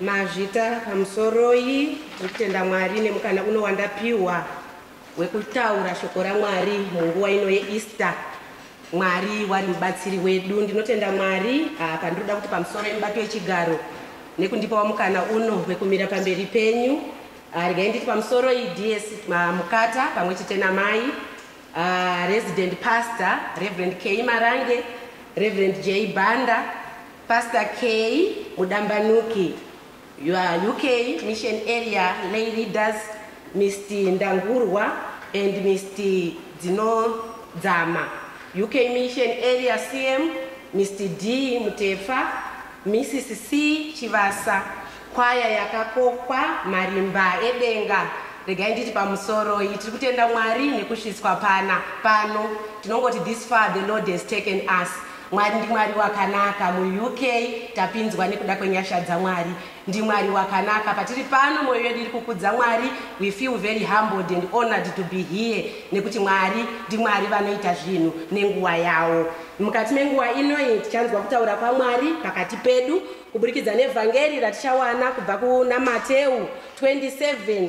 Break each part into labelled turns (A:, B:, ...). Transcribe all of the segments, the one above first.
A: Mazvita pamusoroi tiri kutenda Mwari nemukana uno wandapiwa wekutaura shoko raMwari munguva ino yeEaster. Mwari wari mubatsiri wedu. Ndinotenda Mwari apa ah, ndinoda kuti pamusoro yemubati wechigaro nekundipawo mukana uno wekumira pamberi penyu. Ah, regai nditi pamusoro iDS ah, Mukata pamwe chete namai Resident Pastor Reverend K Marange, Reverend J Banda Pastor K Mudambanuki, your UK mission area lay leaders Mr Ndangurwa and Mr Dzinodzama, UK mission area CM Mr D Mutefa, Mrs C Chivasa, kwaya yakakokwa marimba edenga regai nditi pamusoro iyi tiri kutenda mwari nekusvitswa pana pano tinongoti this far the lord has taken us Mwari ndiMwari wakanaka muUK tapinzwa nekuda kwenyasha dzaMwari ndiMwari wakanaka patiri pano moyo yedu iri kukudza Mwari we feel very humbled and honored to be here nekuti Mwari ndiMwari vanoita zvinhu nenguva yawo mukati menguva inoyi tichanzwa kutaura kwaMwari pakati pedu kuburikidza nevhangeri ratichawana kubva kuna Mateu 27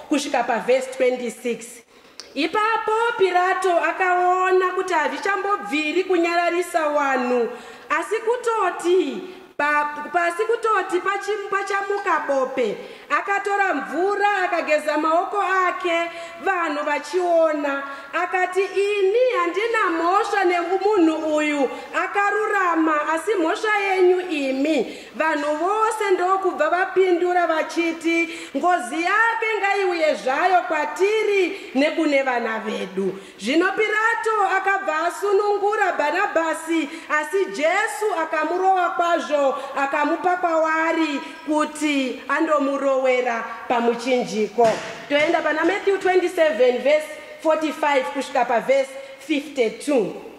A: kusvika pavhesi 26 ipapo pirato akaona kuti hazvichambobviri kunyararisa wanhu asi kutoti pasi kutoti pachamuka bope akatora mvura akageza maoko ake vanhu vachiona akati ini handina mhosva nemunhu uyu akarurama asi mhosva yenyu imi Vanhu vose ndokubva vapindura vachiti, Ngozi yake ngaiuye zvayo kwatiri nekune vana vedu. Zvino Pirato akabva asunungura Bhanabhasi, asi Jesu akamurova kwazvo akamupa kwavari kuti andomurowera pamuchinjiko. Toenda pana Matthew 27 verse 45 kusvika pavhesi 52.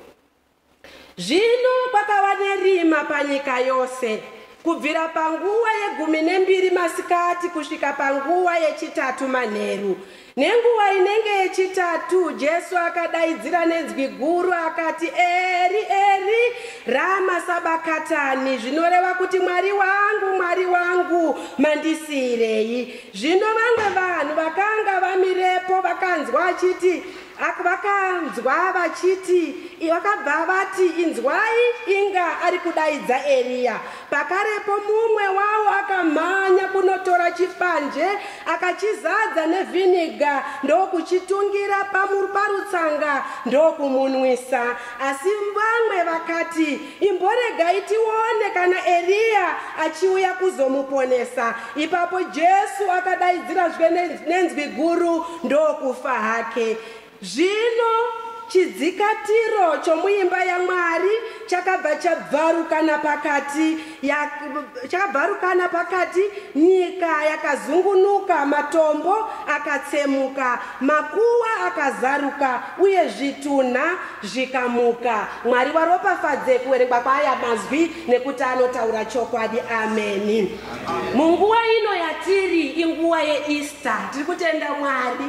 A: Zvino kwakava nerima panyika yose kubvira panguva yegumi nembiri masikati kusvika panguva yechitatu manheru. Nenguva inenge yechitatu Jesu akadaidzira nenzwi guru akati, Eri, Eri, rama sabakatani, zvinoreva kuti Mwari wangu, Mwari wangu, mandisiirei? Zvino vamwe vanhu vakanga vamirepo vakanzwa achiti, Ak vakanzwa vachiti, i- vakabva vati, Inzwai, inga ari kudaidza Eriya. Pakarepo mumwe wavo akamhanya kunotora chipanje, akachizadza nevhiniga ndokuchitungira pamu- parutsanga ndokumunwisa. Asi vamwe vakati, Imboregai tione kana Eriya achiuya kuzomuponesa. Ipapo Jesu akadaidzira zve nenzwi guru ndokufa hake. Zvino chidzikatiro chomuimba yaMwari chakabva chabvarukana pakati ya, chakabvarukana pakati nyika yakazungunuka matombo akatsemuka makuwa akazaruka uye zvitunha zvikamuka Mwari waropafadze kuwerekwa kwaaya mazwi nekuti anotaura chokwadi. Ameni. Munguva ino yatiri inguva yeEaster. Tiri kutenda Mwari.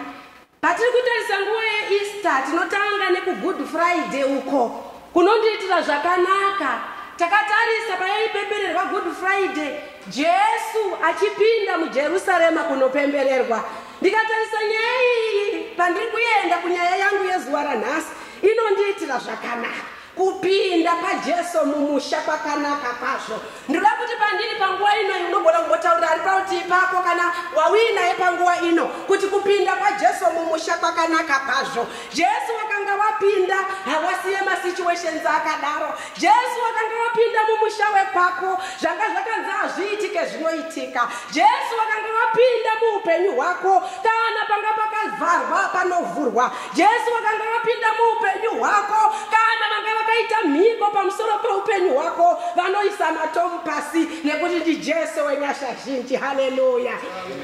A: Patiri kutarisa nguva yeEaster tinotanga nekuGood Friday uko kunondiitira zvakanaka. Takatarisa payaipembererwa Good Friday Jesu achipinda muJerusarema kunopembererwa. Ndikatarisa nyaya iyi pandiri kuenda kunyaya yangu yezuva ranhasi inondiitira zvakanaka kupinda pajesu mumusha kwakanaka kwazvo ndinoda kuti pandiri panguva ino unogona kumbotaurira ari parutivi pako kana wauinaye panguva ino kuti kupinda kwajesu mumusha kwakanaka kwazvo jesu wakanga wapinda hawasiye masituations akadaro jesu wakanga wapinda mumusha wekwako zvanga zvakanzi hazviitike zvinoitika jesu wakanga wapinda muupenyu hwako kana panga pakavharwa panovhurwa jesu vakanga vapinda muupenyu hwako kana vanga vakaita mhiko pamusoro peupenyu hwako vanoisa matomu pasi nekuti ndi jesu wenyasha zhinji haleluya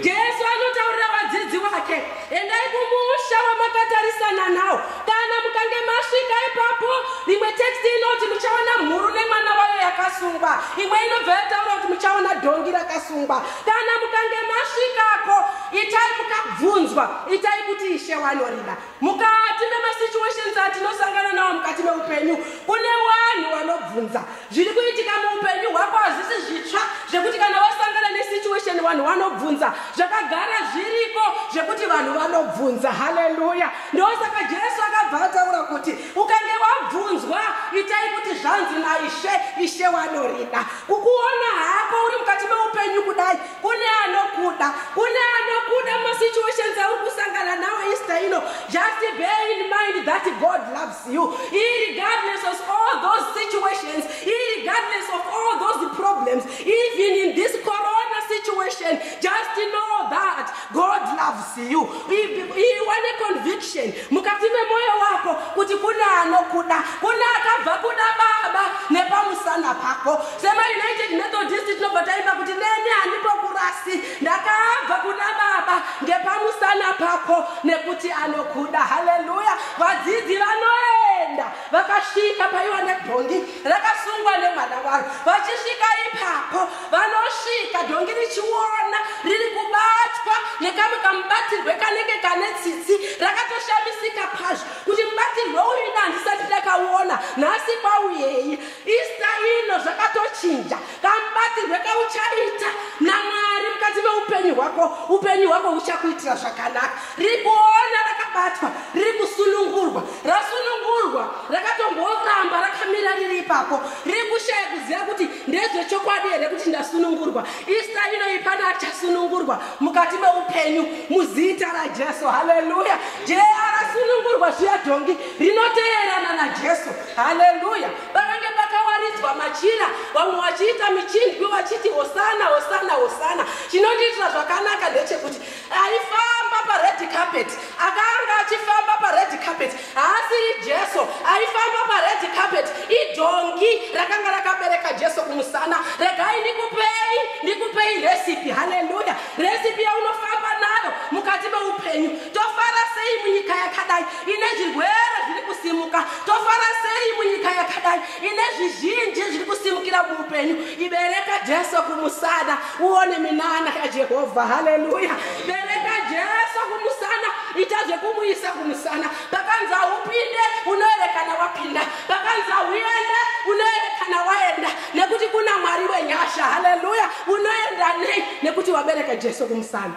A: jesu anotaurira vadzidzi wake endai kumusha wamakatarisana nawo kana mukange masvika ipapo rimwe teksti inoti muchaona mhuru nemwana wayo yakasungwa imwe inobva yataura kuti muchaona dhongi rakasungwa kana mukange masvikako itai mukabvunzwa itai kuti ishe wanorida mukati memasituations atinosangana nawo mukati meupenyu kune vanhu vanobvunza zviri kuitika muupenyu hwako hazvisi zvitsva zvekuti kana wasangana nesituation vanhu vanobvunza zvakagara zviriko zvekuti vanhu vanobvunza haleluya ndosaka jesu akabva ataura kuti ukange wabvunzwa itai kuti zvanzi naishe ishe wanorida kukuona hako uri mukati meupenyu kudai kune anokuda kune anokuda masituations auri kusangana nawo easter ino just bear in mind that god loves you irregardless of all those situations irregardless of all those problems even in this corona situation just know that God loves you. Iwa ne conviction mukati memoyo wako kuti kune anokuda, kune akabva kuda baba nepamusana pako. Sema United Methodist tinobva taimba kuti neni handipo kurasi, ndakabva kuna baba ngepamusana pako nekuti anokuda. Haleluya! Vadzidzi vanoenda vakasvika paiwa nebhongi rakasungwa nemwana waro, vachisvika ipapo vanosvika dhongi richiona riri kubatwa nekamwe kamubatirwe kanenge kane tsitsi rakatoshamisika pazvo kuti mubatirwe uyu ina handisati ndakaona nhasi kwauyei ista ino zvakatochinja kamubatirwe kauchaita namwari mukati meupenyu hwako upenyu hwako huchakuitira zvakanaka riri kuona rakabatwa riri kusunungurwa rasunungurwa rakatomboramba rakamira riri ipapo riri kushaya kuziva kuti ndezvechokwadi here kuti ndasunungurwa ista inoyi pane achasunungurwa mukati meupenyu muzita rajesu haleluya jeya rasunungurwa zviya dhongi rinoteerana najesu haleluya pakange pakawaridzwa machira vamwe vachiita michindwi vachiti hosana hosana hosana chinondiitira zvakanaka ndechekuti aifamba pared carpet akanga achifamba pared carpet haasiri jesu aifamba pared carpet idhongi rakanga rakabereka jesu kumusana regai ndikupei ndikupei recipe haleluya recipe yaunofamba nayo mukati meupenyu tofara sei munyika yakadai ine zvirwere zviri kusimuka tofara sei munyika yakadai ine zvizhinji zviri kusimukira muupenyu ibereka jesu kumusana uone minana yajehovha haleluya bereka jesu kumusana ita zvekumuisa kumusana pakanzi haupinde unoerekana wapinda pakanzi hauende unoerekana waenda nekuti kuna mwari wenyasha haleluya unoenda nei nekuti wabereka jesu kumusana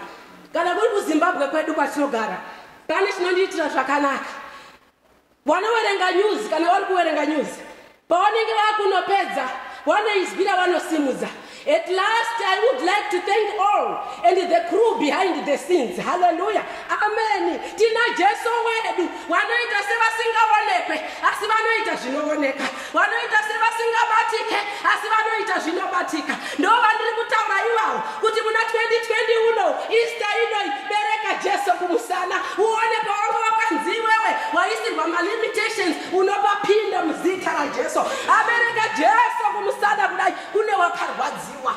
A: kana kuri kuzimbabwe kwedu kwatinogara pane chinondiitira zvakanaka vanoverenga news kana vari kuverenga news pavanenge vakunopedza vanoizwira vanosimudza at last i would like to thank all and the crew behind the scenes halleluya ameni tina jesu wedu vanoita sevasingaonekwe asi vanoita zvinooneka vanoita sevasingabatike asi vanoita zvinobatika ndo vandiri kutaura ivawo kuti muna 2020 uno ista inoi bereka jesu kumusana uone pawanga wakanzi iwewe waisirwa malimitations unopapinda muzita rajesu abereka jesu kumusana kudai kune wakarwadziwa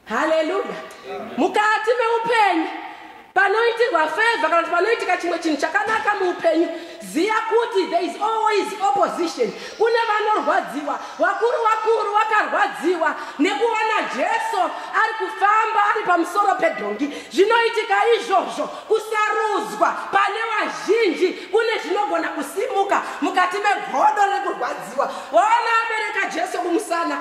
A: haleluya mukati meupenyu panoitirwa feva kana kuti panoitika chimwe chinhu chakanaka muupenyu ziva kuti there is always opposition kune vanorwadziwa vakuru vakuru vakarwadziwa nekuva najesu ari kufamba ari pamusoro pedhongi zvinoitika izvozvo kusarudzwa pane vazhinji kune zvinogona kusimuka mukati megodo rekurwadziwa waona abereka jesu kumusana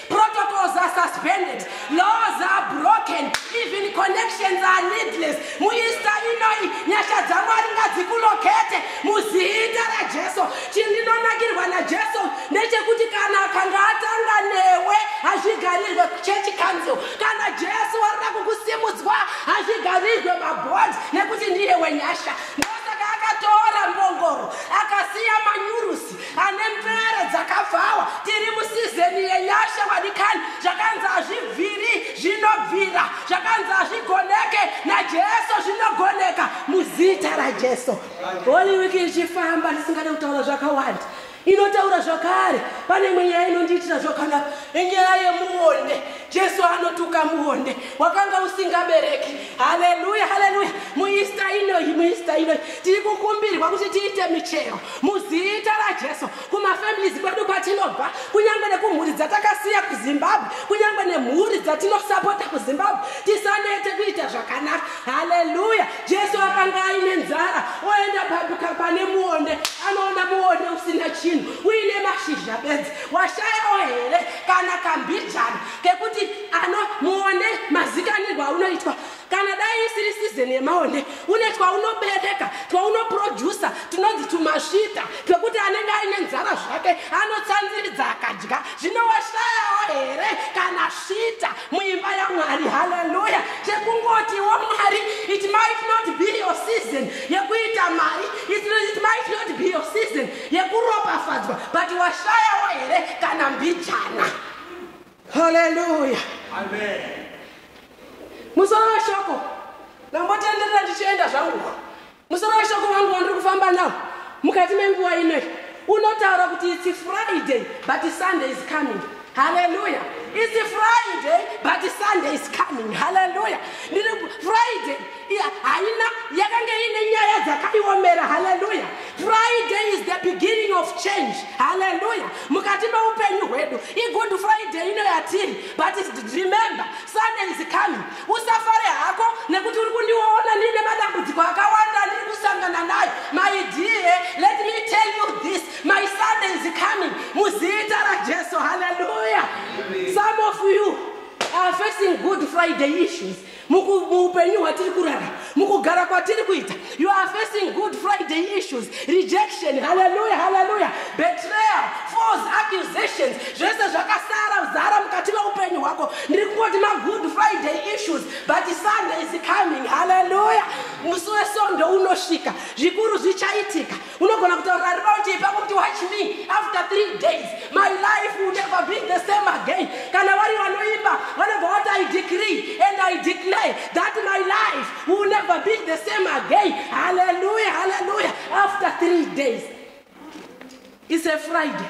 A: Protocols are suspended, laws are broken, even connections are needless. Muista inoi nyasha dzamwari ngadzikulokete muzita raJesu. Chindinonakirwa naJesu ndechekuti kana akanga atanga newe hazvigarirwe church council. Kana Jesu warira kukusimudzwa hazvigarirwe mabond nekuti ndiye wenyasha. Ndosaka akatora mbongoro akasiya manyurusi. ane mbere dzakabvawa tiri musizeni yenyasha vadikani zvakanzi hazvibviri zvinobvira zvakanzi hazvigoneke najesu zvinogoneka muzita rajesu holy wiki ichifamba ndisingade kutaura zvakawanda inotaura zvakare pane imwe nyaya inondiitira zvakanaka inyaya yemuonde jesu anotuka muonde wakanga usingabereki haleluya haleluya muista inoyi muista inoyi tiri kukumbirwa kuti tiite michero muzita rajesu kumafamilies kwedu kwatinobva kunyange nekumhuri dzatakasiya kuzimbabwe kunyange nemhuri dzatinosapota kuzimbabwe tisanete kuita zvakanaka haleluya jesu akanga aine nzara oenda pabuka pane muonde anoona muonde usina chinhu uine mashizha bedzi washayawo here kana kambijana kekuti ano muonde mazikanirwa unoitwa kana dai isiri sizeni yemaonde une twaunobereka twaunoprodusa tunonzi tumasvita twekuti anenge aine nzara zvake anotsanziridza akadya zvinowashayawo here kana svita muimba yamwari haleluya chekungotiwo mwari it might not be your season yekuita mari it might not be your season yekuropafadzwa but washayawo here kana mbijana haleluya musoro weshoko ndambotenderera ndichienda zvangu musoro weshoko vangu vandiri kufamba nawo mukati menguva inoi unotaura kuti its friday but sunday is coming haleluya its friday but sunday is coming haleluya ndiri friday haina yakanga iine nyaya dzakaiomera haleluya friday is the beginning of change haleluya mukati meupenyu hwedu igood friday ino yatiri but remember sunday is coming usafare hako nekuti uri kundiona ndiine madambudziko akawanda ndiri kusangana nayo my dear let me tell you this my sunday is coming muzita rajesu haleluya some of you are facing good friday issues muupenyu hwatiri kurara mukugara kwatiri kuita you are facing good friday issues rejection haleluya haleluya betrayal false accusations zvese zvakasara zara mukati meupenyu hwako ndiri kungoti magood friday issues but sunday is coming haleluya musi wesonde unosvika zvikuru zvichaitika unogona kutaurira riraundi ipapo kuti watch me after three days my life will never be the same again kana vari vanoimba vanobva vati i decree and i declare that my life will never be the same again halleluya halleluya after three days is a friday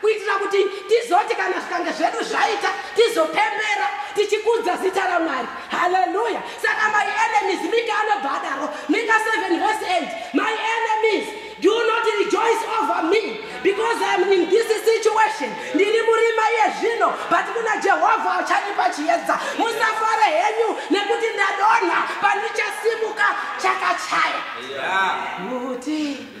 A: kuitira kuti tizoti kana zvikange zvedu zvaita tizopembera tichikudza zita ramwari haleluya saka my enemies mika anobva adaro mika 7 verse 8 my enemies do not rejoice over me because iam in this situation ndiri murima iye zvino but kuna jehovha achandipa chiedza musafare henyu nekuti ndadonha pandichasimuka chakachaya kuti yeah.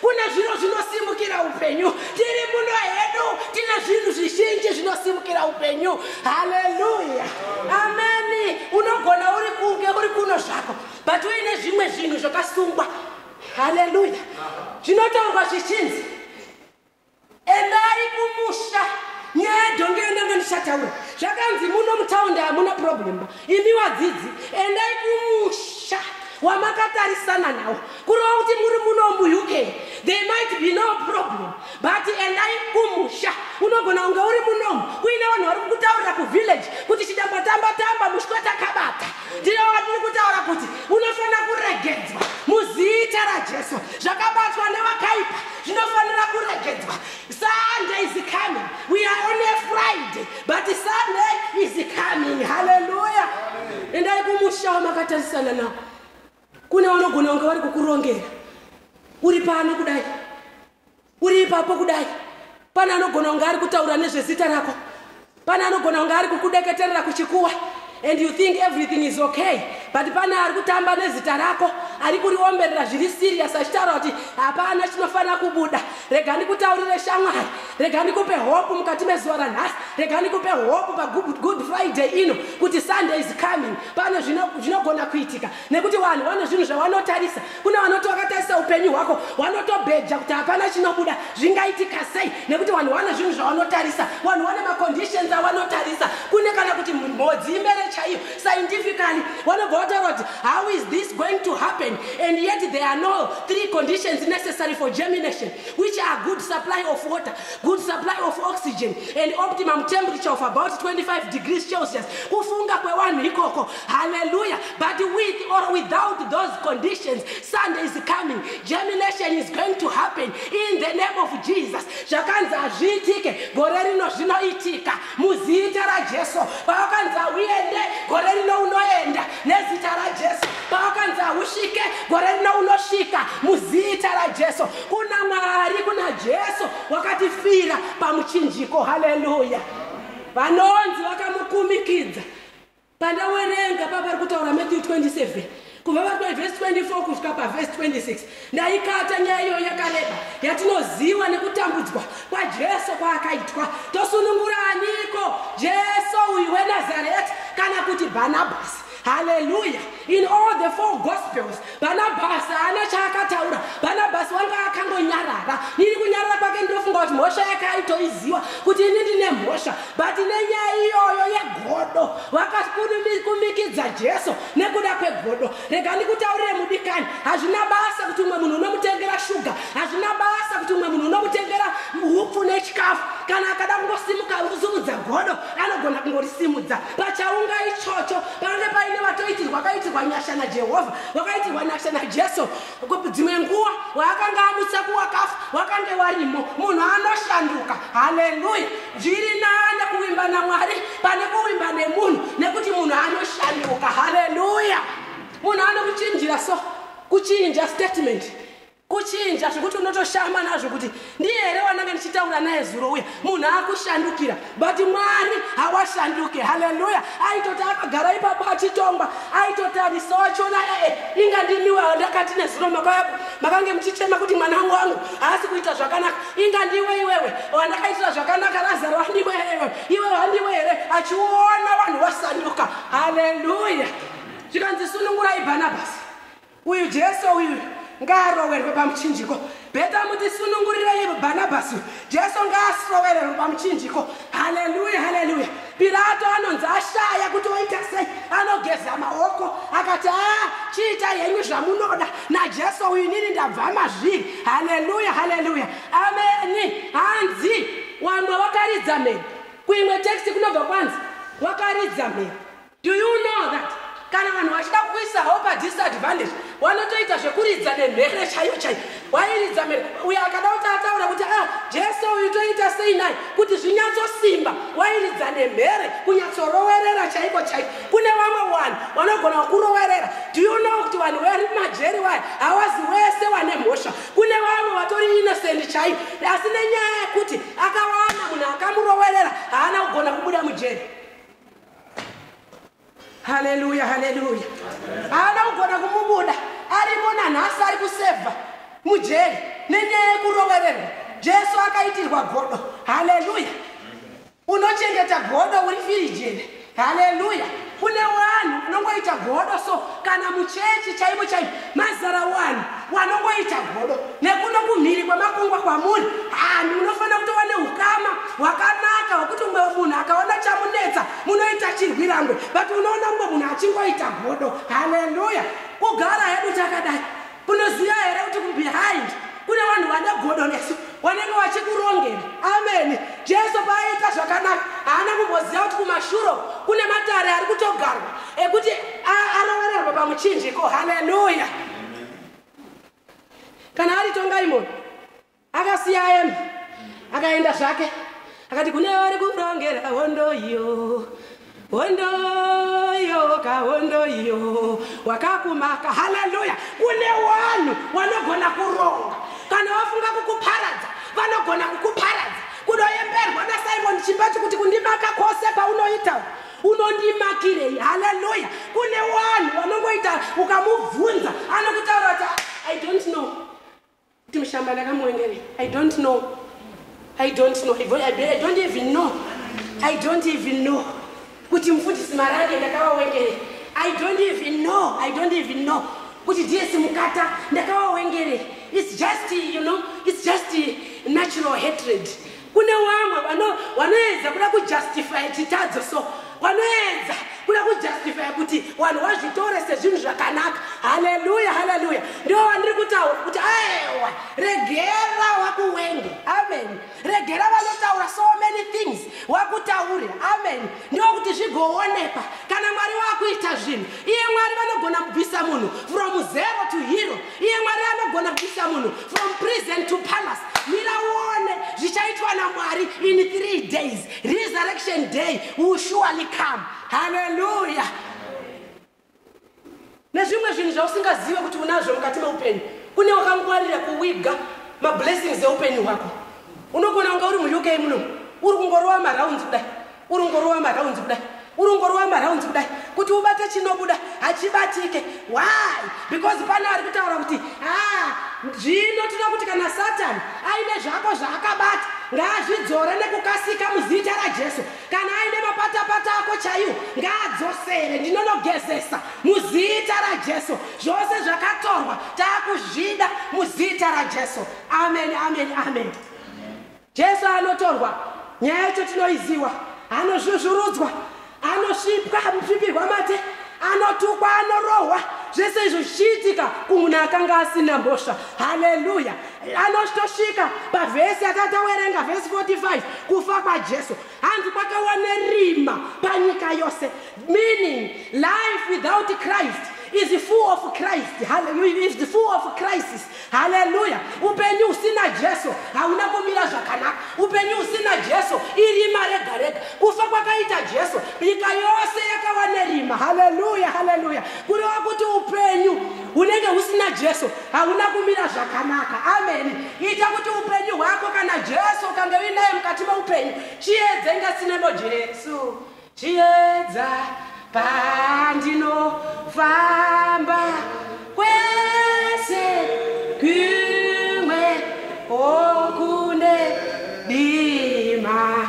A: Kune zviro zvinosimukira upenyu. Tiri muno hedu tine zvinhu zvizhinji zvinosimukira upenyu. Haleluya. Ameni. Unogona uri kunge uri kuno zvako but uine zvimwe zvinhu zvakasungwa. Haleluya. Zvinotaurwa zvichinzi endai kumusha nyaya yedhongi yandanga ndichataura zvakanzi muno mutaundi hamuna problem imi wadzidzi endai kumusha wamakatarisana nawo kureva kuti muri muno muuk there might be no problem but endai kumusha unogona kunge uri munomu kuine vanhu vari kukutaurira kuvillage kuti chidambatambatamba mushwatakabata ndiro vatiri kutaura kuti unofanira kuregedzwa muzita rajesu zvakabatwa nevakaipa zvinofanira kuregedzwa sunday is coming we are on a friday but sunday is coming halleluya endai kumusha wamakatasisana nawo kune vanogona kunge vari kukurongera uri pano kudai uri ipapo kudai pane anogona kunge ari kutaura nezvezita rako pane anogona kunge ari kukudeketerera kuchikuwa and you think everything is okay but pane ari kutamba nezita rako ari kuriomberera zviri serious achitaura kuti hapana chinofanira kubuda rega ndikutaurire shamwari rega ndikupe hope mukati mezuva ranhasi rega ndikupe hope pagood friday ino kuti sunday is coming pane zvinogona kuitika nekuti vanhu vane zvinhu zvavanotarisa kune vanoti vakatarisa upenyu hwako vanotobheja kuti hapana chinobuda zvingaitika sei nekuti vanhu vane zvinhu zvavanotarisa vanhu vane maconditions avanotarisa kune kana kuti mhodzi imere chaiyo scientifically vanobva vataura kuti how is this going to happen and yet there are no three conditions necessary for germination which are good supply of water good supply of oxygen and optimum temperature of about 25 degrees celsius kufunga kwevanhu ikoko Hallelujah. But with or without those conditions, Sunday is coming. Germination is going to happen in the name of Jesus. Zvakanzi hazviitike gore rino zvinoitika muzita raJesu. Pawakanzi hauende gore rino unoenda nezita raJesu. Pawakanzi hausvike gore rino unosvika muzita raJesu. Kuna Mwari, kuna Jesu wakatifira pamuchinjiko. Hallelujah. Vanonzi vakamukumikidza pandawerenga papari kutaura matthew 27 kubva vari pavhesi 24 kusvika pavhesi 26 ndaikata nyaya iyoyo yakareba yatinoziva nekutambudzwa kwajesu kwaakaitwa tosunungura aniko jesu uyu wenazareti kana kuti bhanabhasi haleluya in all the four gospels Bhanabhasi haana chaakataura. Bhanabhasi wanga akangonyarara. Iri kunyarara kwake ndinofunga kuti mhosva yake aitoiziva kuti ini ndine mhosva. But nenyaya iyoyo yegodo vakakumikidza Jesu nekuda kwegodo. Rega ndikutaurire mudikani, hazvina basa kuti umwe munhu unomutengera shuga, hazvina basa kuti umwe munhu unomutengera hupfu nechikafu. Kana akada kungosimuka kuzumudza godo anogona kungorisimudza pachaunga ichocho. pange paine vatoitirwa kaitirwa nyasha najehovha vakaitirwa nyasha najesu dzimwe nguva waakanga amutsa kuwakafa wakange warimo munhu anoshanduka haleluya zviri nane kuvimba namwari pane kuvimba nemunhu nekuti munhu anoshanduka haleluya munhu anokuchinjira so kuchinja statement kuchinja zvekuti unotoshama nazvo kuti ndiye here wananga ndichitaura naye zuro uya munhu akushandukira but mwari hawashanduke haleluya aitoti akagara ipapo achitongwa aitoti anisowachona ee inga ndimiwe andakati nezuro makayako makange muchichema kuti mwana wangu wangu haasi kuita zvakanaka inga ndiwe iwewe wandakaitira zvakanaka razaro wandiwe here iwe wandiwe here achiona vanhu vasanduka haleluya zvikanzi sunungurai bhanabhasi uyu jesu uyu ngaarowerwe pamuchinjiko beta muti sunungurirei bhanabhasi uyu jesu ngaasrowererwe pamuchinjiko haleluya haleluya pirato anonzi ashaya kuti oita sei anogeza maoko akati a chiita henyu zvamunoda najesu uyu inini ndabva mazviri haleluya haleluya ameni hanzi wamwe wakaridza mheni kuimwe teksti kunobva kwanzi wakaridza mheni Do you know that kana vanhu vachida kuisa hope disadvantage wanotoita zvekuridza nemhere chaiyo chaiyo wairidza mhere uyo akada kuti ataura kuti a ah, jesu uyu toita sei nai kuti zvinyatsosimba wairidza nemhere kunyatsorowerera chaiko chaiko kune vamwe vanhu vanogona kurowerera do you know kuti vanhu vari majeri waya hawazi wese wane mhosva kune vamwe vatori innocent chaiyo asi nenyaya yekuti akawana munhu akamurowerera haana kugona kubuda mujeri haleluya haleluya haana kugona kumubuda arimo nanhasi ari kusevha mujeri nenyaya yekurovererwa jesu akaitirwa godo haleluya unochengeta godo uri firijeni haleluya kune vanhu vanongoita godo so kana muchechi chaivo chaivo mazara wani wanongoita godo nekuno kumhiri kwemakungwa kwamuri hanhu munofanira kuti wane ukama hwakanaka hwekuti umwe munhu akaona chamunetsa munoita chirwirangwe but unoona umwe munhu achingoita godo haleluya kugara hedu takadai kunoziva here kuti kubehind kune vanhu vane godo nesu wanenge wachikurongera ameni jesu paaiita zvakanaka haana kumboziva kuti kumashuro kune matare ari kutogarwa ekuti arovererwa pamuchinjiko haleluya kana ari tongaimoni akasiya aemba akaenda zvake akati kune vari kurongera hondo iyo hondo iyo ka hondo iyo wakakumaka haleluya kune wanhu wanogona kuronga kana wafunga kukuparadza vanogona kukuparadza kunoyemberwa nasimon chimbachi kuti kundimaka kwose kwaunoita unondimakirei haleluya kune wanhu vanongoita ukamubvunza anokutaura kuti ah, i don't know kuti mushamba ndakamuwengerei i don't know i don't know i don't even know i don't even know kuti mufundisi marange ndakavawengerei i don't even know i don't even know kuti ds mukata ndakavawengerei its just you know its just natural hatred Kune wamwe wano wanoedza kuda kujustify chitadzo so wanoedza kuda kujustify kuti wanhu wazvitore sezvinhu zvakanaka haleluya haleluya ndiwo wandiri kutaura kuti aewa regera wakuwenge amen regera vanotaura so many things wakutaure amen ndiwo kuti zvigoonekwa kana mwari wakuita zvinhu iye mwari vanogona kubvisa munhu from zero to hero iye mwari anogona kubvisa munhu from prison to palace mira uone zvichaitwa namwari in three days resurrection day will surely come halleluya nezvimwe zvinhu zvausingazive kuti unazvo mukati meupenyu kune wakangwarira kuwiga mablessings eupenyu hwako unogona kunga uri muuk muno uri kungorova marounds kudai urongorova maraunzi kudai urongorova maraunzi kudai kuti ubate chinobuda hachibatike why because pane ari kutaura kuti ha ah, zvino tinoda kuti kana satani aine zvako zvaakabata ngaazvidzore nekukasika muzita rajesu kana aine mapatapata ako chaiwo ngaadzosere ndinonogezesa muzita rajesu zvose zvakatorwa taakuzvida muzita rajesu amen amen amen, amen. Jesu anotorwa, nyaya yacho tinoiziwa, anozvuzvurudzwa, anosvipwa, anosvipirwa mate, anotukwa, anorohwa, zvese izvo zvichiitika kumunhu akanga asina mhosva. Haleluya! Anotosvika pavhesi akatawerenga, vhesi 45, kufa kwaJesu. hanzi kwakawa nerima panyika yose meaning life without christ is the full of christ is the full of crisis haleluya upenyu usina jesu hauna kumira zvakanaka upenyu usina jesu irima rega rega kufa kwakaita jesu nyika yose yakawa nerima haleluya haleluya kureva kuti upenyu hunenge husina jesu hauna kumira zvakanaka ameni ita kuti upenyu hwako kana jesu ukange uinaye mukati meupenyu chiedze ngasinemo jesu chiedza pandinofamba kwese kumwe okune dima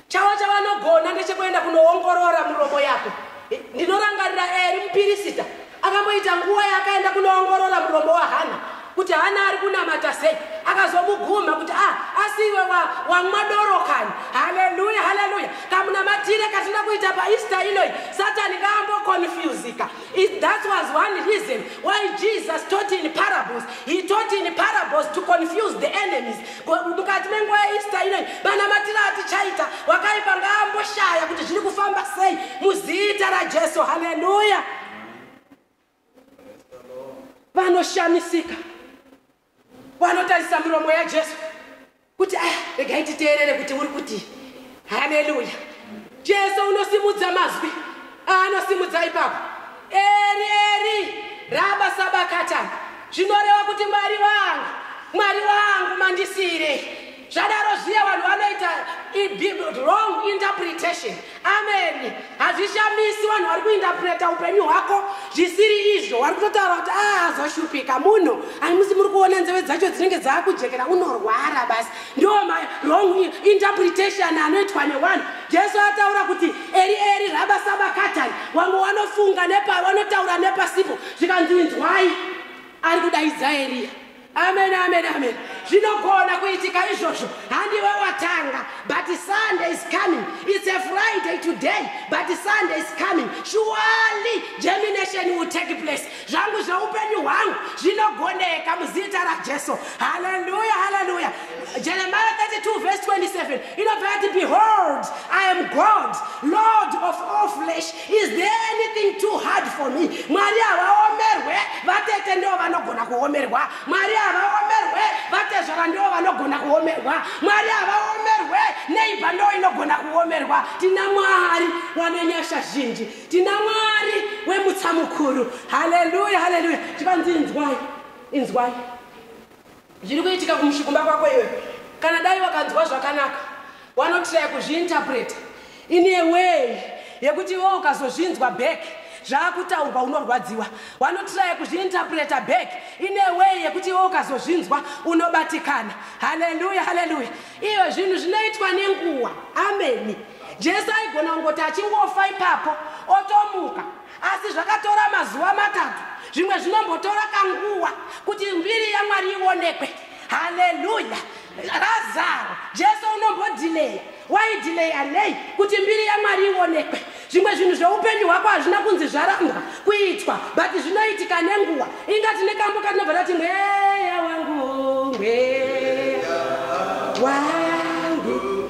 A: Chavo chavanogona ndechekuenda kunoongorora muromo yako. Ndinorangarira Eri mupirisita akamboita nguva yaakaenda kunoongorora muromo waHana kuti Hana ari kunamata sei, akazomugumha kuti ah, asi iwe wamwa doro kani. Haleluya, haleluya! Kamunamatire katinoda kuita paEaster inoyi, Satani ngaambokonfuzika. It, that was one reason why Jesus taught in parables. He taught in parables to confuse the enemies. Mukati menguva yeEaster inoyi manamatiro atichaita wakaipa ngaamboshaya kuti zviri kufamba sei muzita raJesu. Haleluya! Vanoshamisika. wanotarisa miromo yajesu kuti ah, regai titeerere kuti uri kuti haleluya jesu unosimudza mazwi aanosimudza ipapo eri eri raba sabakatani zvinoreva kuti mwari wangu mwari wangu mandisire zvadaro zviya vanhu vanoita wrong interpretation amen hazvishamisi vanhu vari kuinterpreta upenyu hwako zvisiri izvo wari kutotaura kuti ah, azoshupika munhu aimusi muri kuona nzeve dzacho dzinenge dzaakujekera unorwara basi ndo mawrong interpretation anoitwa newanhu jesu ataura kuti eri eri rabasabakatani wamwe wanofunga nepa wanotaura nepasipo zvikanzinzwai ari kudaidza eriya amen amen amen zvinogona kuitika izvozvo handiwe watanga but sunday is coming it's a friday today but sunday is coming surely germination will take place zvangu zveupenyu hwangu zvinogoneka muzita rajesu haleluya haleluya jeremiah 32 verse 27 inobva yati behold i am god lord of all flesh Is there anything too hard for me? Mwari havaomerwe, vatete ndivo vanogona kuomerwa. Mwari havaomerwe, vatezvara ndivo vanogona kuomerwa. Mwari havaomerwe, neighbor ndivo inogona kuomerwa. Tina Mwari wane nyasha zhinji. Tina Mwari wemutsa mukuru. Hallelujah, hallelujah. Chivanzi inzwai, inzwai. zviri kuitika kumusha kumba kwako iwe kana dai wakanzwa zvakanaka wanotiraya kuzviinterpreta in a way yekuti iwe ukazozvinzwa back zvaakutaurwa unorwadziwa wanotiraya kuzviinterpreta back in a way yekuti iwe ukazozvinzwa unobatikana haleluya haleluya iyo zvinhu zvinoitwa nenguva ameni jesu aigona kungoti achingofa ipapo otomuka Asi zvakatora mazuva matatu, zvimwe zvinombotora kanguva kuti mbiri yaMwari ionekwe. Haleluya! Razaro, Jesu unombodhileya. Waidhileya nei? Kuti mbiri yaMwari ionekwe. Zvimwe zvinhu zveupenyu hwako hazvina kunzi zvarambwa kuitwa, but zvinoitika nenguva. Inga tine kambo katinobva tati mweya wangu, mweya wangu.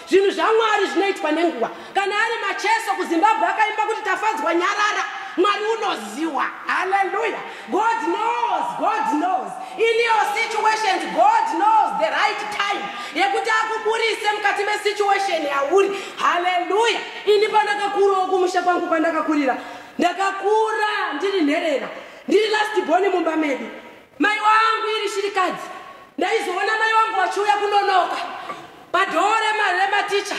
A: Zvinhu zvaMwari zvinoitwa nenguva. Kana ari Macheso kuZimbabwe akaimba kuti Tafadzwa nyarara, Mwari unoziwa. Hallelujah. God knows, God knows. In your situations, God knows the right time yekuti akuburise mukati mesituation yauri. Hallelujah. Ini pandakakurawo kumusha kwangu kwandakakurira, ndakakura ndiri nherera, ndiri last born mumba medu. Mai wangu iri shirikadzi ndaizoona mai wangu vachiuya kunonoka padhoo rematicha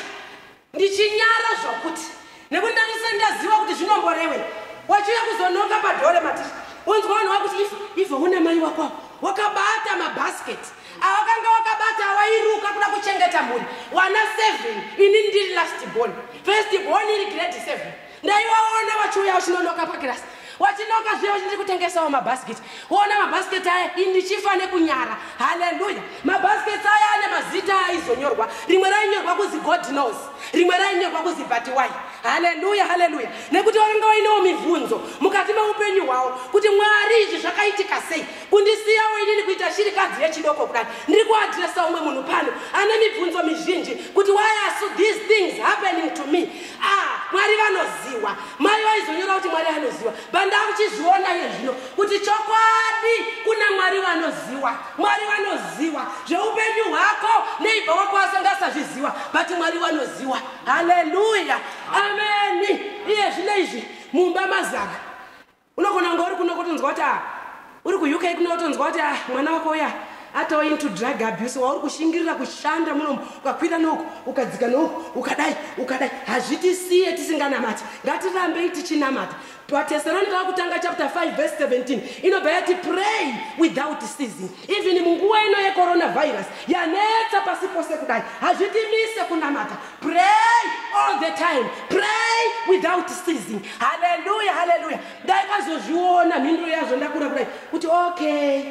A: ndichinyara zvokuti nekuti ndandisati ndaziva kuti zvinomborewe wachiuya kuzonoka padhoo rematicha wonzwa vanhu vakuti ifa ifa una mai wako wakabata mabhasketi awakanga wakabata awairuka kuda kuchengeta mhuri wana seven ini ndiri last born first born iri grade seven ndaivaona vachiuya vachinonoka pakirasi vachinoka zviya vachindiri kutengesawo mabhasiketi woona mabhasiketi aya indichifa nekunyara haleluya mabhasiketi aya ane mazita aizonyorwa rimwe rainyorwa kuzi god knows rimwe rainyorwa kuzi batiwai haleluya haleluya nekuti vakanga vainewo mibvunzo mukati meupenyu hwavo kuti mwari izvi zvakaitika sei kundisiyawo inini kuita shirikadzi yechidoko kudai ndiri kuadresa umwe munhu pano ane mibvunzo mizhinji kuti why are so these things happening to me Ah, mwari vanoziwa mai vaizonyora kuti mwari anoziwa bandakuchizviona iye zvino kuti chokwadi kuna mwari vanoziwa mwari vanoziwa zveupenyu hwako neibva wako asangasazviziwa but mwari vanoziwa haleluya ameni iye zvino izvi mumba mazara unogona kunge uri kuno kotonzwa kuti ah uri kuuk kuno wotonzwa kuti ah mwana wako uya atawa into drug abuse wauri kushingirira kushanda munomu ukakwira nouku ukadzika nouku ukadai ukadai hazvitisiye tisinganamati ngatirambei tichinamata vateseroni vava kutanga chapter 5 vese 17 inobva yati pray without season even munguva ino yecoronavirus yanetsa pasi pose kudai hazvitimise kunamata pray all the time pray without seasing haleluya haleluya ndaikazozviona mhinduro yazvo ndakura kudai kuti okay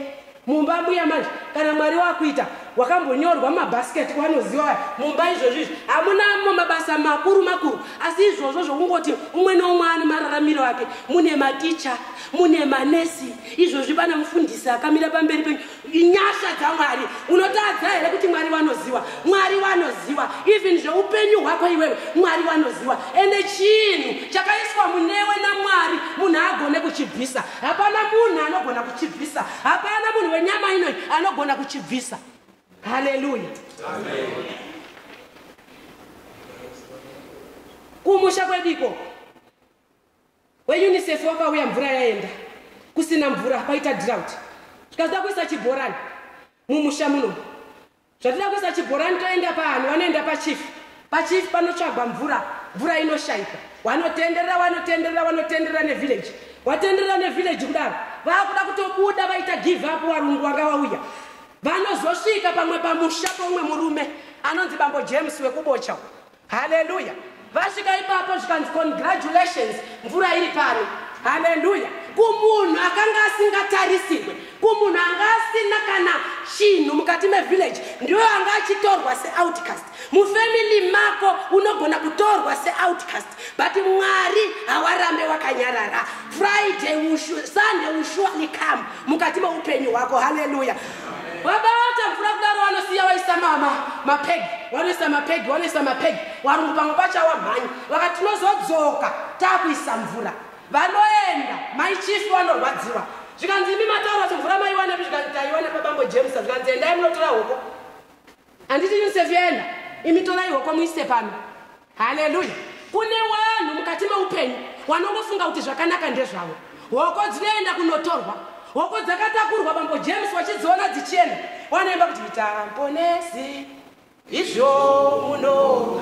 A: mumba mbuya manje kana mwari wakuita wakambonyorwa mabhasiketi kwanoziva vaya mumba izvozvo izvi hamunamo mabasa makuru makuru asi izvozvo zvokungoti umwe neumwe ane mararamiro ake mune maticha mune manesi izvozvi pana mufundisi akamira pamberi penyu inyasha dzamwari unotadza here kuti mwari wanoziwa mwari wanoziwa even zveupenyu hwako iwewe mwari wanoziwa ende chinhu chakaiswa munewe namwari munhu agone kuchibvisa hapana munhu anogona kuchibvisa hapana munhu wenyama inoi anogona kuchibvisa haleluya kumusha kwediko WeUnicef wakauya mvura yaenda. Kusina mvura paita drought. Zvikazoda kuisa chibhorani mumusha muno. Zvatoda kuisa chibhorani toenda paani wanoenda pachief. Pachief panotsvagwa mvura. Mvura inoshaikwa. Wanotenderera wanotenderera wanotenderera nevillage. Watenderera nevillage kudaro. Vakuda kutobuda vaita give up warungu wanga wauya. Vanozosvika pamwe pamusha pomwe murume anonzi bambo James wekubocha. haleluya vasvika ipapo zvikanzi congratulations mvura iri pano haleluya kumunhu akanga asingatarisirwe kumunhu anga asina kana chinhu mukati mevillage ndiyo anga achitorwa seoutcast mufamily mako unogona kutorwa seoutcast but mwari hawarambe wakanyarara friday sunday will surely come mukati meupenyu hwako haleluya vabata mvura kudaro vanosiya vaisa mama mapegi vanoisa mapegi vanoisa mapegi varungu pamwe pachawa mhanyi vakati tinozodzoka taakuisa mvura vanoenda maichifi vanorwadziwa zvikanzi imi mataura kuti mvura maiwanepi zvikanzi taiwana pabambo james zvikanzi endai munotora hoko handiti yunsefi yaenda imi torai hoko muise pano haleluya kune vanhu mukati meupenyu wanongofunga kuti zvakanaka ndezvavo hoko dzinoenda kunotorwa hoko dzakatakurwa bambo james wachidziona dzichienda wanoimba kuti itamponesi izvo muno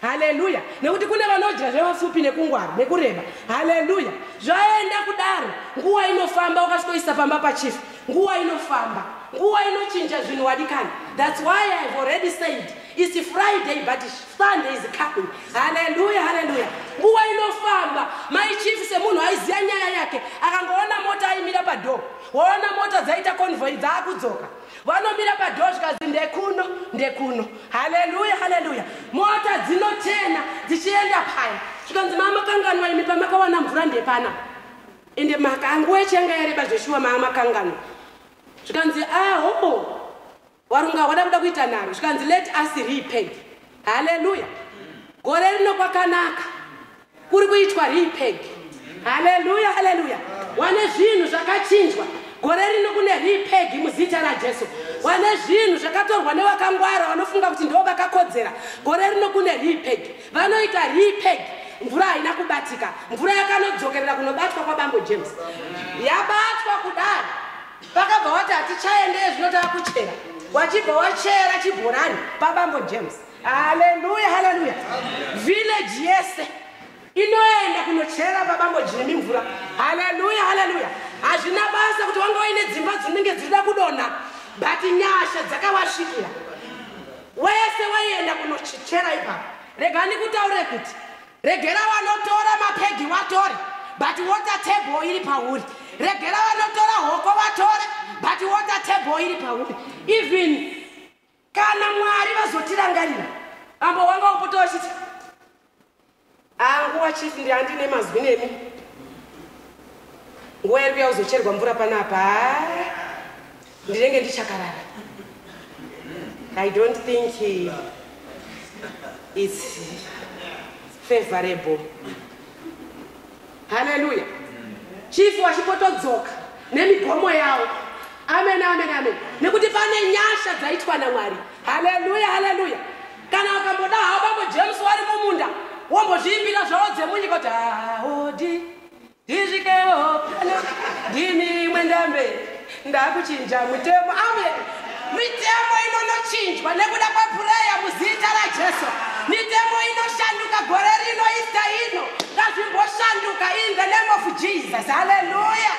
A: haleluya nekuti kune vanodya zvevapfupi nekungwara nekureba haleluya zvaenda kudaro nguva inofamba ukasvikoisa pamba pachief nguva inofamba nguva inochinja zvinhu wadikani thats why ihave already said its friday but sunday is coming haleluya haleluya nguva inofamba mai chief semunhu aiziva nyaya yake akangoona mota aimira padhoo waona mota dzaita convoy dzaakudzoka vanomira padhoo zvikazi ndekuno ndekuno haleluya haleluya mota dzinochena dzichienda paya zvikanzi mama kanganwa imi pamakawana mvura ndepana ende makanguwa echiyanga yareba zveshuwa maa makanganwa zvikanzi aho ah, oh, warunga hwada kuda kuita naro zvikanzi let us repent haleluya gore rino kwakanaka kuri kuitwa repeg haleluya haleluya wane zvinhu zvakachinjwa gore rino kune repeg muzita rajesu wane zvinhu zvakatorwa nevakangwara vanofunga kuti ndo vakakodzera gore rino kune repeg vanoita repeg mvura haina kubatika mvura yakanodzokerera kunobatwa kwabambo james yabatwa kudai vakabva wati hatichaendeye zvinotava kuchera wachibva wachera chibhorani pabambo james haleluya haleluya village yese inoenda kunochera babambo jimi mvura haleluya haleluya hazvina basa kuti wanga waine dzimba dzinenge dzirida kudonha but nyasha dzakawasvikira wese waienda kunochera ipapo rega ndikutaure kuti regera vanotora mapegi watore but water table iri pauri regera vanotora hoko vatore but water table iri pauri even Kana Mwari vazotirangarira, ambo wanga wapota wachiti anguwa chief ndiandine mazwi nemi nguva iri kuya uzocherwa mvura panapa ndinenge ndichakarara i don't think it's favorable haleluya chifu wachipotodzoka nemigomo yawo amen amen amen nekuti pane nyasha dzaitwa namwari haleluya haleluya kana ukamboda hawo bambo james wari mumunda wombozviimbira zvawo dzemunyika kuti haodi ndisvikewo pano ndini mwendamberi Ndakuchinja mutemo. Amen. Mitemo inonochinjwa nekuda kwepureya muzita raJesu. Mitemo inoshanduka gore rino ista ino. Ngazvimboshanduka in the name of Jesus. Haleluya.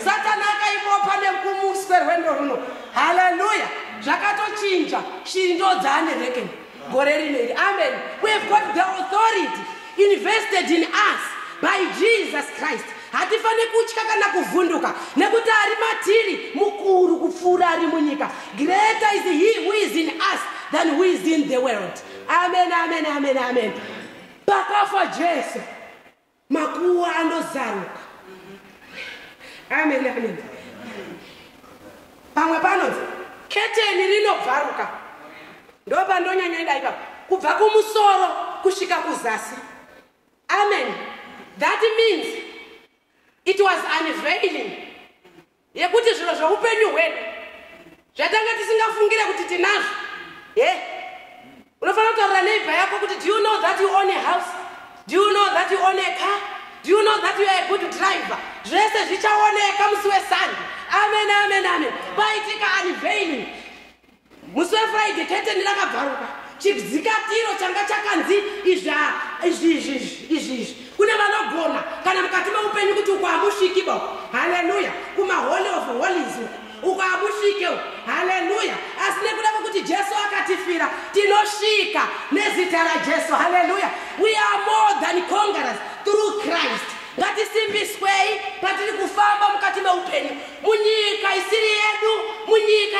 A: Satana akaibopa nekumuswe rwendo runo. Haleluya. Zvakatochinja. Shiri ndodzaane rekeni. gore rino iri amen we have got the authority invested in us by jesus christ hatifanire kutya kana kuvhunduka nekuti ari matiri mukuru kupfuura ari munyika greater is he who is in us than who is in the world amen amen amen amen pakafa jesu makuwa anozaruka amen amen pamwe panonzi keteni rinobvaruka ndopandonyanya ida ipapa kubva kumusoro kusvika kuzasi amen that means it was unveiling yekuti zviro zveupenyu hwedu zvatanga tisingafungire kuti tinazvo he yeah. unofanira kutaurira neighbor yako kuti do you know that you own a house do you know that you own a car do you know that you are a good driver zvese zvichaoneka musi wesande amen amen amen paitika unveiling musi wefriday keteni rakabvaruka chibzikatiro changa chakanzi izvi izvi izvi izvi izvi kune vanogona kana mukati meupenyu kuti uko hamusviki bo haleluya kumaholy of holies uko hamusvike haleluya asi nekuda kwekuti jesu akatifira tinosvika nezita rajesu haleluya we are more than congerers through christ ngatisimbiswei patiri kufamba mukati meupenyu munyika isiri yedu munyika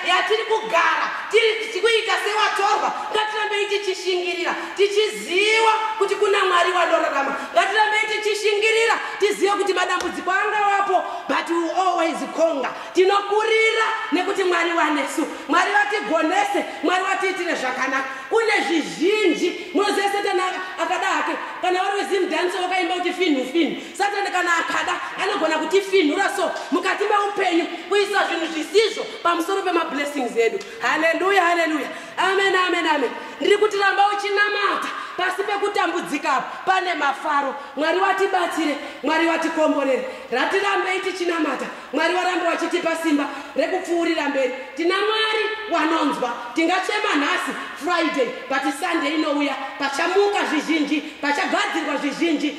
A: yatiri kugara tiri kuita sewatorwa ngatirambei tichishingirira tichiziva kuti kuna mwari wanorarama ngatirambei tichishingirira tizive kuti madambudziko angawapo but we always conga tinokurira nekuti mwari wanesu mwari vatigonese mwari vatiitire zvakanaka kune zvizhinji munoziva setani akada hake kana vari wezimdanso vakaimba kuti finhu finhu satani kana akada anogona kutifinhura so mukati meupenyu kuisa zvinhu zvisizvo pamusoro pemablessings edu haleluya haleluya amen amen amen ndiri kuti ramba uchinamata pasi pekutambudzika apo pane mafaro mwari watibatsire mwari watikomborere ratirambei tichinamata mwari warambe wachitipa simba rekupfuurira mberi tina mwari wanonzwa tingachema nhasi friday but sunday inouya pachamuka zvizhinji pachagadzirwa zvizhinji